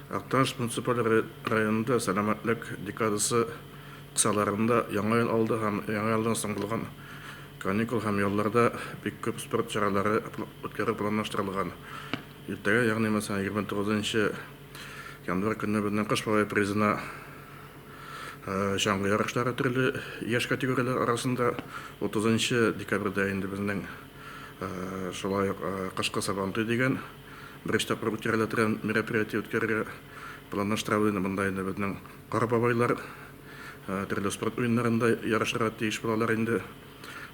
Актаныш муниципаль районында Сәламәтлек декадасы кысаларында Яңа ел алды һәм Яңа елдан соң булган каникул һәм ялларда бик күп спорт чаралары үткәрү планлаштырылган. Иртәгә, ягъни мәсәлән, 29 нчы январь көнне безнең Кыш бабай призына чаңгы ярышлары төрле яшь категорияләр арасында, 30 нчы декабрьдә инде безнең шулай ук Кышкы Сабантуй дигән Беренче тапкыр үткәрелә торган мероприятие үткәрергә планлаштырабыз инде. Монда инде безнең кара бабайлар төрле спорт уеннарында ярышырга тиеш булалар инде.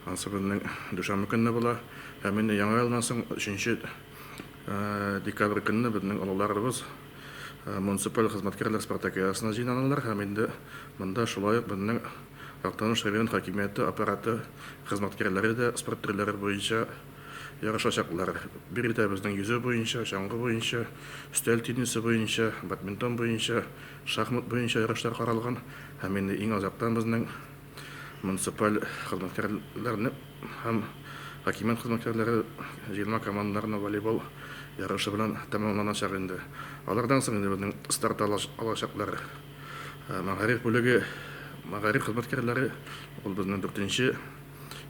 Ансы безнең дүшәмбе көнне була. Һәм инде Яңа елдан соң 3 декабрь көнне безнең олыларыбыз муниципаль хезмәткәрләр спартакиадасына җыйнаналар һәм инде монда шулай ук безнең Актаныш район хакимияте аппараты хезмәткәрләре дә спорт төрләре буенча Ярышачаклар. Биредә безнең йөзү буенча, чаңгы буенча, өстәл теннисы буенча, бадминтон буенча, шахмат буенча ярышлар каралган һәм инде иң азактан безнең муниципаль хезмәткәрләрне һәм хакимият хезмәткәрләре җыелма командаларны волейбол ярышы белән тәмамланачак инде. Алардан соң инде безнең старт алачаклар мәгариф бүлеге, мәгариф хезмәткәрләре, ул безнең дүртенче.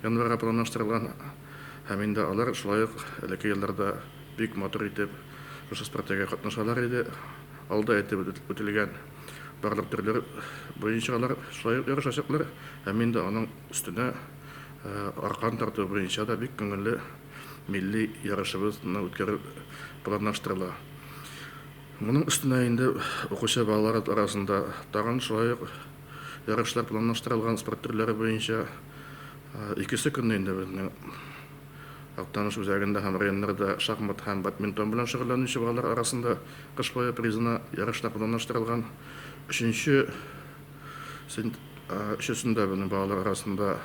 январьга планлаштырылган һәм инде алар шулай ук элекке елларда бик матур итеп шушы спартакиадә катнашалар иде. Алда әйтеп үтелгән барлык төрләр буенча алар шулай ук ярышачаклар һәм инде аның өстенә аркан тарту буенча да бик күңелле милли ярышыбызны үткәрү планлаштырыла. Моның өстенә инде укучы балалар арасында тагын шулай ук Ярышлар планлаштырылган спорт төрләре буенча икесе көнне инде безнең Актаныш үзәгендә һәм районнарда шахмат һәм бадминтон белән шөгыльләнүче балалар арасында кыш бае призына ярышлар планлаштырылган. Өченче сент өчесендә безнең балалар арасында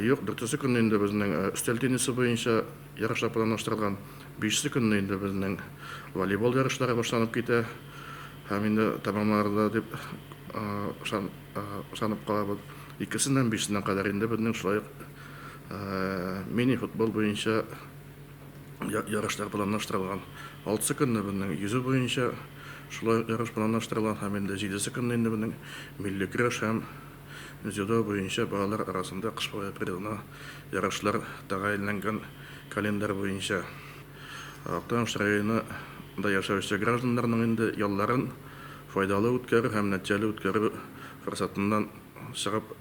юк. Дүртесе көнне инде безнең өстәл теннисы буенча ярышлар планлаштырылган. Бишесе көнне инде безнең волейбол ярышлары башланып китә. Һәм инде тәмамларда дип ышанып калабыз. Икесеннән бишенә кадәр инде безнең шулай ук мини-футбол буенча ярышлар планлаштырылган. Алтысы көнне безнең йөзү буенча шулай ук ярыш планлаштырылган һәм инде җидесе көнне инде безнең милли көрәш һәм дзюдо буенча балалар арасында кыш бабай призына ярышлар тәгаенләнгән календарь буенча. Актаныш районы да яшәүче гражданнарның инде ялларын файдалы үткәрү һәм нәтиҗәле үткәрү форсатыннан чыгып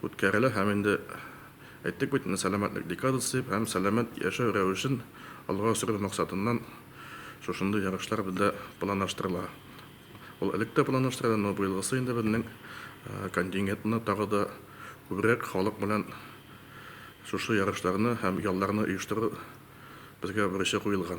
үткәрелә һәм инде әйттек бит менә сәламәтлек декадасы дип һәм сәламәт яшәү рәвешен алга сөрү максатыннан шушындый ярышлар бездә планлаштырыла. Ул элек тә планлаштырыла, но быелгысы инде безнең контингентны тагы да күбрәк халык белән Шушы ярышларны һәм ялларны оештыру безгә бурычы куелган.